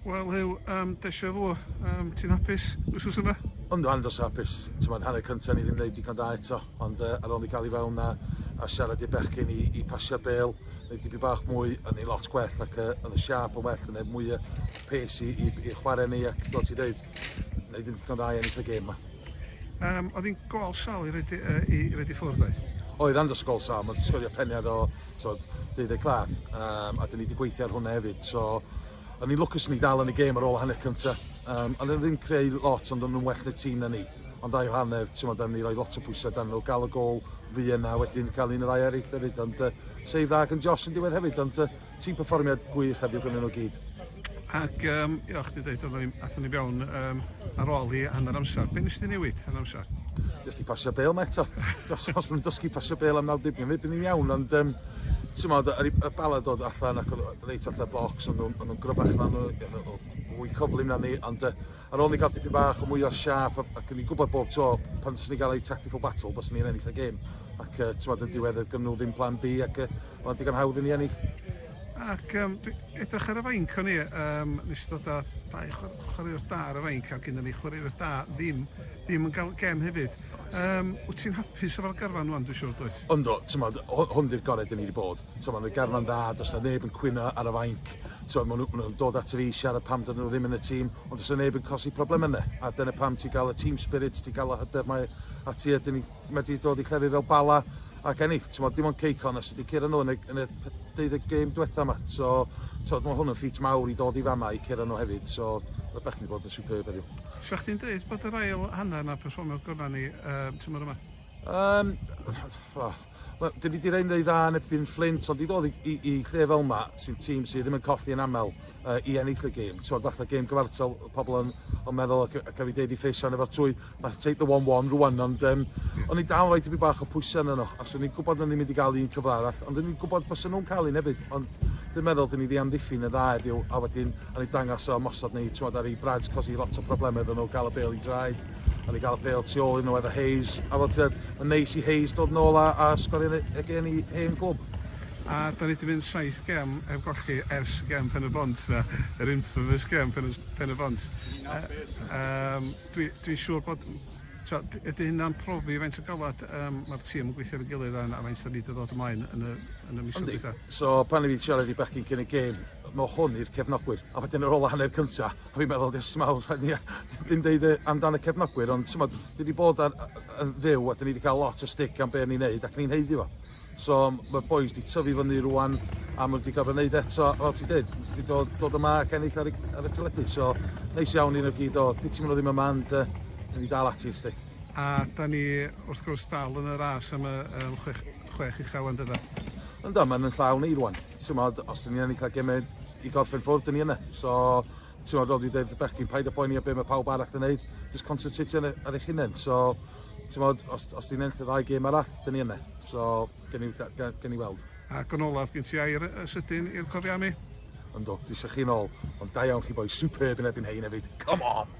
Wel Huw, um, deisio fo, um, ti'n hapus wrthus yma? Ond rhan dros hapus, ti'n meddwl, hanner cyntaf ni ddim wneud digon da eto, ond uh, ar ôl ni gael i fewn a, a siarad i'r bechgyn i, i pasio bel, neu dibi bach mwy, yn ei lot gwell ac uh, oedd y siap yn well, yn ei mwy pes i, i, i chwarae ni ac fel ti'n dweud, wneud ddim digon da i ennill y gêm yma. Um, oedd hi'n gol sal i redi, uh, i redi ffwrdd oedd? Oedd, rhan dros gol sal, mae'n sgorio peniad o tod, deuddeg claf, um, a dyn ni wedi gweithio ar hwnna hefyd. So, o'n i'n lwcus ni dal yn y gêm ar ôl hanner cynta. Um, ond ddim creu lot, ond o'n nhw'n well na tîm na ni. Ond ail hanner, ti'n modd, ni roi lot o bwysau dan nhw, gael y gol fi yna, wedyn cael un y ddau eraill hefyd. Ond uh, save dda gan Josh yn diwedd hefyd, ond uh, tîm perfformiad gwych heddiw gyda nhw gyd. Ac, um, ia, o'ch di dweud, athyn ni fewn um, ar ôl hi hanner amser. Be nes di newid hanner amser? Nes di pasio bel ma eto. Os, os mae'n dysgu pasio bel am 90 yn fyd, ni'n iawn, ond... Um, Ti'n modd, y, y bala dod allan ac oedd reit allan bocs, ond nhw'n nhw gryfach na nhw, fwy cyflym na ni, ond uh, Ar ôl ni cael dipyn bach o mwy o siâp ac o'n i'n gwybod bob tro pan fyswn ni'n cael eu tactical battle byswn ni'n ennill y gêm ac uh, ti'n meddwl yn diwedd gynnu nhw ddim plan B ac uh, o'n digon hawdd i ni ennill. Ac um, edrych ar y fainc o'n i, um, nes i ddod â dau chwaraewr da ar y fainc a gyda ni chwaraewr da ddim, ddim yn cael gem hefyd. Um, wyt ti'n hapus efo'r garfan rwan, dwi'n siŵr, does? Ynddo, ti'n meddwl, hwn di'r gorau dyn ni wedi bod. T'mo' ma' 'na garfan dda, do's 'na neb yn cwyno ar y fainc, t'mo' ma' nw ma' nw'n dod ato fi i siarad pam dydyn nw ddim yn y tîm, ond do's 'na neb yn colli probleme 'na, a dyna pam ti'n ga'l y team spirit, ti'n ga'l y hyder 'ma ati a 'dyn ni ma' 'di dod i llefydd fel Bala ac ennill, t'mo' dim ond Cei Connah sy 'di curo nw yn y yn y p- deuddeg gêm dwetha 'ma, so t'od ma' hwn yn ffit mawr i dod i fama i curo nw hefyd, so ma' bechgyn 'di bod yn superb heddiw. Sa chdi'n deud bod yr ail hanner 'na perfformiad gorau ni ym tymor yma? Yym, wel, Wel, dyn ni wedi rhaid yn ei dda yn ebyn Fflint, ond i ddod i, i, i lle fel yma, sy'n tîm sydd ddim yn colli yn aml uh, i ennill y gêm. Ti'n fath o gêm gyfartal, pobl yn, yn meddwl ac, ac wedi deud i ffeisian efo'r twy, mae take the 1-1 rwan, ond um, o'n i'n dal rhaid i mi bach o pwysau yn yno, ac o'n i'n gwybod o'n i'n mynd i gael un cyfle arall, ond o'n i'n gwybod bys nhw'n cael un hefyd, ond dwi'n meddwl dyn ni wedi amddiffyn y dda heddiw, a wedyn o'n i'n dangos o ymosod ni, ti'n ar ei brads, cos i lot o problemau iddyn nhw gael y bel i draed. a ni gael y pêl tu ôl i nhw efo Hayes. A fel ti'n mae'n neis i Hayes dod yn ôl a, a sgorio yn y gen i hen gwb. A da ni wedi mynd saith gem heb golli ers gem Pen y Bont, na, yr infamous gem Pen, pen y Bont. Um, Dwi'n dwi siŵr bod So, ydy hynna'n profi faint o galwad um, mae'r tîm yn gweithio ar y gilydd a, a faint da ni wedi dod ymlaen yn y, yn y mis o'n dweud. So, pan i fi siarad i bechgyn cyn y gêm, mae hwn i'r cefnogwyr. A wedyn yr ola hanner cyntaf, Fi'n meddwl jyst t'mod ni a- ddim deud yy amdan y cefnogwyr ond t'mod ni 'di bod ar yy yn fyw a 'dyn ni 'di cael lot o stick am be' o'n ni'n neud ac ni'n haeddu fo. So ma'r bois 'di tyfu fyny rŵan a ma' nw 'di gorfod neud e eto fel ti'n deud i dod dod yma ac ennill ar y ar y teledu so neis iawn i nw gyd o piti ma' nw ddim yma ond yy newn ni dal ati sti. A 'dan ni wrth gwrs dal yn y ras am y yym chwech chwech ucha ŵan dydan? Yndw ma'n 'yn llaw ni rŵan t'mod os 'dyn ni'n ennill ar geme i gorffen ffwrdd, dyn ni yna. So, ti'n meddwl, dwi dweud bechgyn, paid a poeni a be mae pawb arall yn neud, just concentrate ar, ar eich hunain. So, ti'n meddwl, os, os ti'n enll y ddau gêm arall, dyn ni yna. So, gen i, gen i weld. Ac yn olaf, gen ti air sydyn i'r cofianu? Ynddo, dwi eisiau chi'n ôl, ond da iawn chi boi, superb yn ebyn hein hefyd, come on!